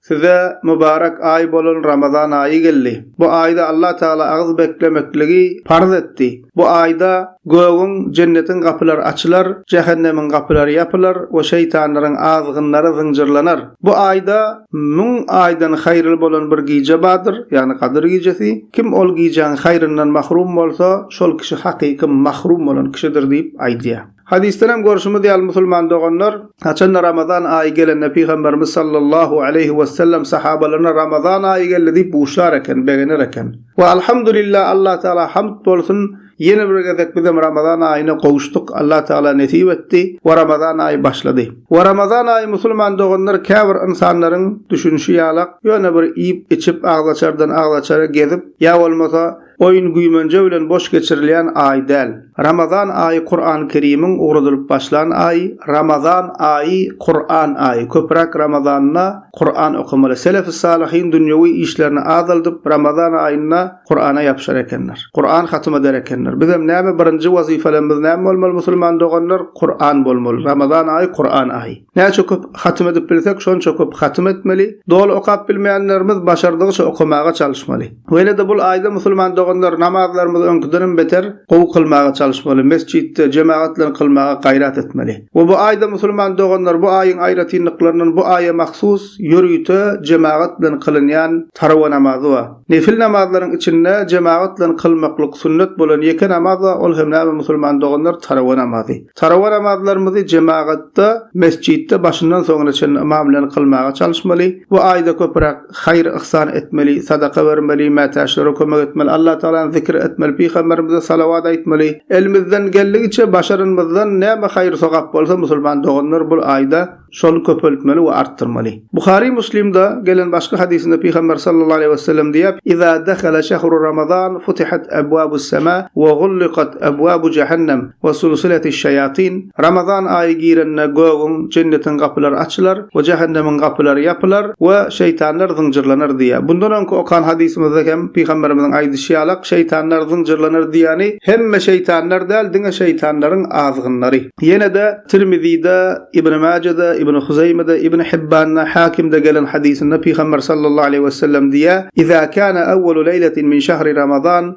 Size mübarek aý bolan Ramazan aýy geldi. Bu aýda Allah Tagala agyz beklemekligi parz etdi. Bu aýda gögüň, jennetiň gapylary açylar, jähennemiň gapylary ýapylar we şeýtanlaryň azgynlary zynjyrlanar. Bu aýda müň aýdan haýyrly bolan bir gije bardyr, ýagny Gadyr gijesi. Kim ol gijäň haýyryndan mahrum bolsa, şol kişi hakyky mahrum bolan kişidir diýip aýdýar. Hadysdan hem görşümiz ýaly musulman doganlar, haçanda Ramazan aýy gelende Pygamberimiz sallallahu aleýhi wesellem sahabalaryna Ramazan aýy geldi diýip buşlar eken, begener eken. We Alhamdulillah Allah Taala hamd bolsun ýene bir gezek bizem Ramazan aýyna gowuşdyk Allah Taala nesip etdi we Ramazan aýy başlady. We Ramazan aýy musulman doganlar käbir ynsanlaryň düşünişi ýalak ýöne bir iýip içip agzaçardan agzaçara gezip ýa bolmasa Oýun-güýmenje bilen boş geçirilýän aý däl. Ramazan aýy Kuran-Kerimiň ugradylyp başlan aýy. Ramazan aýy, Kuran aýy. Köpräk Ramazanda Kuran okamaly. Selef-i salihyn dünýewi işlerini azaldyp, Ramazan aýynda Kurana ýapyşar ekenler. Kuran hatym eder ekenler. Bizem näme birinji wazypalarymyz näme bolmaly musulman doganlar? Kuran bolmaly. Ramazan aýy Kuran aýy. Näçe köp hatym edip bilsek şonça köp hatym etmeli. Doly okap bilmeýänlerimiz başardygyça okamaga çalyşmaly. Weýle-de bul aýda musulman doganlar namazlarymyzy öňküdenem beter gowy kylmaga çalyşmaly, mesjitde, jemagat bilen kylmaga gaýrat etmeli. We bu aýda musulman doganlar bu aýyň aýratynlyklaryndan bu aýa mahsus ýörite jemagat bilen kylynýan tarawa namazy bar. Nefil namazlaryň içinde jemagat bilen kylmaklyk sünnet bolan ýeke namaz bar, ol hem näme musulman doganlar tarawa namazy. Tarawa namazlarymyzy jemagatda, mesjitde başyndan soňuna çenli ymam bilen kylmaga çalyşmaly. Bu aýda köpüräk. haýyr-yhsan etmeli, sadaka bermeli, mätäçlere kömek etmeli, Allatagalany zikir etmeli, pygamberimize salawat aýtmaly, elimizden geldigiçe başaranymyzdan näme haýyr-sogap bolsa musulman doganlar bul aýda şony köpeltmeli we artdyrmaly. Buhary Muslimde gelen başga hadysynda pygamber sallallahu aleýhi wesellem diýýär, Iza dahale şehru Ramazan futihat ebwabus sema we gullikat ebwabu jehennem we sulsiletis şeýatyn, Ramazan aýy girende gögüň, jennetiň gapylary açylar we jähennemiň gapylary ýapylar we şeýtanlar zynjyrlanar diýýär. Bundan öňki okan hadysymyzda hem pygamberimiziň aýdyşy ýalak, şeýtanlar zynjyrlanar diýýäni hemme şeýtanlar däl, diňe şeýtanlaryň azgynlary. Ýene-de Tirmizide, Ibn Majede, Ibn Huzeýmede, Ibn Hibbanda, Hakimde gelen hadysynda pygamber sallallahu aleýhi wesellem diýýär, Iza kana awwalu leýletin min şahri Ramazan,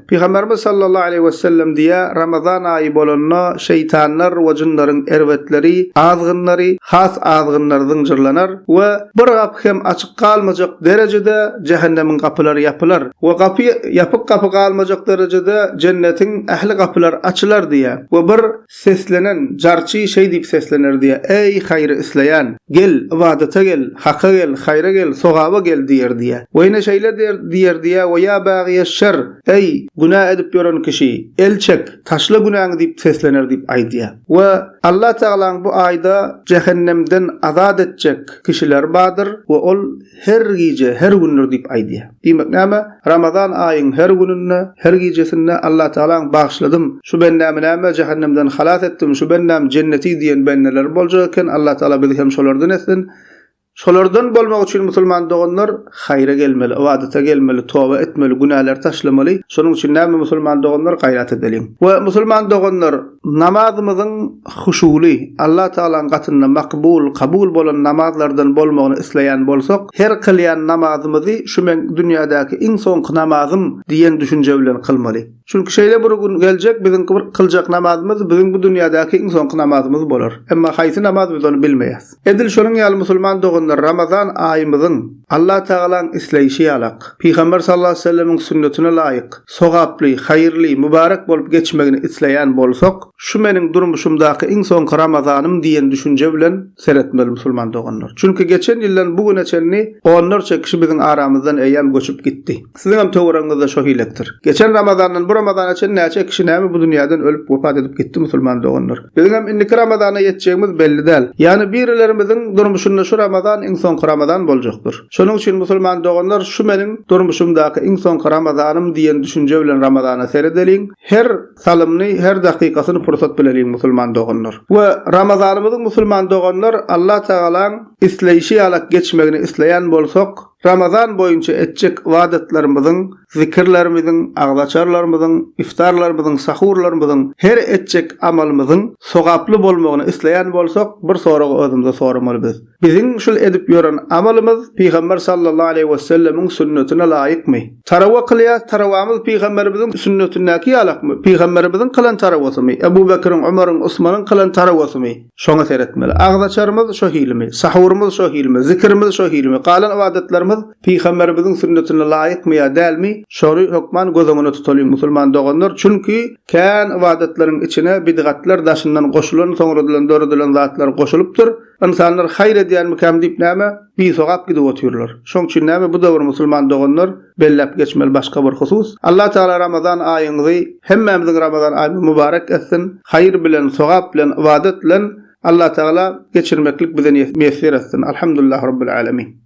Pygamberimiz sallallahu aleýhi wesellem diýýär, Ramazan aýy bolanda şeýtanlar we jynlaryň erbetleri, azgynlary, has azgynlary zynjyrlanar we bir gapy hem açyk galmajak derejede jähennemiň gapylary ýapylar we gapy ýapyk gapy galmajak derejede jennetiň ähli gapylary açylar diýýär we bir Seslenen, jarçy şeý diýip seslener diýýär, Äý, haýry isleýän, gel, ybadata gel, haka gel, haýra gel, sogaba gel diýer diýýär. We ýene şeýle der diýer diýýär, We ýa bagyýeş-şer, äý, günä edip ýören kişi, el çek, taşla günäňi diýip seslener diýip aýdýar. We Allatagalaň bu aýda jähennemden azat etjek kişiler bardyr we ol, Her gije, her gündir diýip aýdýar. Diýmek näme? Ramazan aýyň her gününde, her gijesinde Allatagalaň bagyşladym, şu bendämi näme jähennemden halas etdim, şu bendäm jenneti diýen bendeleri boljak eken, Allatagala bizi hem şolardan etsin. Şolardan bolmak üçin musulman doganlar haýra gelmeli, ybadata gelmeli, toba etmeli, günäleri taşlamaly. Şonuň üçin näme musulman doganlar gaýrat edeliň. We musulman doganlar! Namazymyzyň huşuly, Allah Tagalaň gatynda makbul, kabul bolan namazlardan bolmagyny isleýän bolsak, her kylýan namazymyzy şu meň dünýädäki iň soňky namazym diýen düşünje bilen kylmaly. Çünki şeýle bir gün geljek, biziň bir kyljak namazymyz biziň bu dünýädäki iň soňky namazymyz bolar. Emma haýsy namaz biz ony bilmeýäs. Edil şonuň ýaly musulman doganlar Ramazan aýymyzyň Allatagalaň isleýşi ýalak, Pygamber sallallahu aleýhi we sellemiň sünnetine laýyk, sogaply, haýyrly, mübärek bolup geçmegini isleýän bolsak, şu meniň durmuşymdaky iň soňky Ramazanym diýen düşünje bilen seretmeli musulman doganlar. Çünki geçen ýyldan bu güne çenli onlarça kişi biziň aramyzdan eýýäm göçüp gitdi. Siziňem töweregiňizde şo hilekdir. Geçen Ramazandan bu Ramazana çen näçe kişi näme bu dünýäden ölüp wepat edip gitdi musulman doganlar. Biziňem indiki Ramazana ýetjegimiz belli däl. Ýani birilerimiziň durmuşynda şu Ramazan iň soňky Ramazan boljakdyr. Şonuň üçin musulman doganlar şu meniň durmuşymdaky iň soňky Ramazanym diýen düşünje bilen Ramazana seredeliň, her salymny her dakykasyny pursat bileliň musulman doganlar. We Ramazanymyzyň musulman doganlar Allah Tagalaň isleýşi ýalak geçmegini isleýän bolsak, Ramazan boýunça etjek ybadatlarymyzyň, zikirlerimiziň, agzaçarlarymyzyň, iftarlarymyzyň, sahurlarymyzyň, her etjek amalymyzyň sogaply bolmagyny isleýän bolsak, bir soragy özümize soramaly biz. Biziň şul edip ýören amalymyz Pygamber sallallahu aleýhi wesellemiň sünnetine laýykmy? Tarawa kylýas, tarawamyz Pygamberimiziň sünnetindäki ýalakmy? Pygamberimiziň kylan tarawasymy? Ebu Bekriň, Omaryň, Osmanyň kylan tarawasymy? Şoňa seretmeli. Agzaçarymyz şo hilimi, sahurymyz şo hilimi, zikirimiz şo hilimi, galan ybadatlarymyz Pygamberimiziň sünnetine laýykmy ýa dälmi, şory hökman göz öňüne tutalyň, musulman doganlar, çünki kän ybadatlaryň içine bidgatlar daşyndan goşulan, soňradylan döredilen zatlar goşulypdyr. Ynsanlar haýyr edýänmikäm diýip näme, bisogap gidip otyrlar. Şoň üçin näme bu döwür musulman doganlar, Belläp geçmeli başga bir husus, Allah Tagala Ramazan aýyňyzy hemmämiziň Ramazan aýymyzy mübarek etsin, haýyr bilen, sogap bilen, ybadat bilen Allah Tagala geçirmeklik bize miýesser etsin. Alhamdulillah Rabbil Alemin.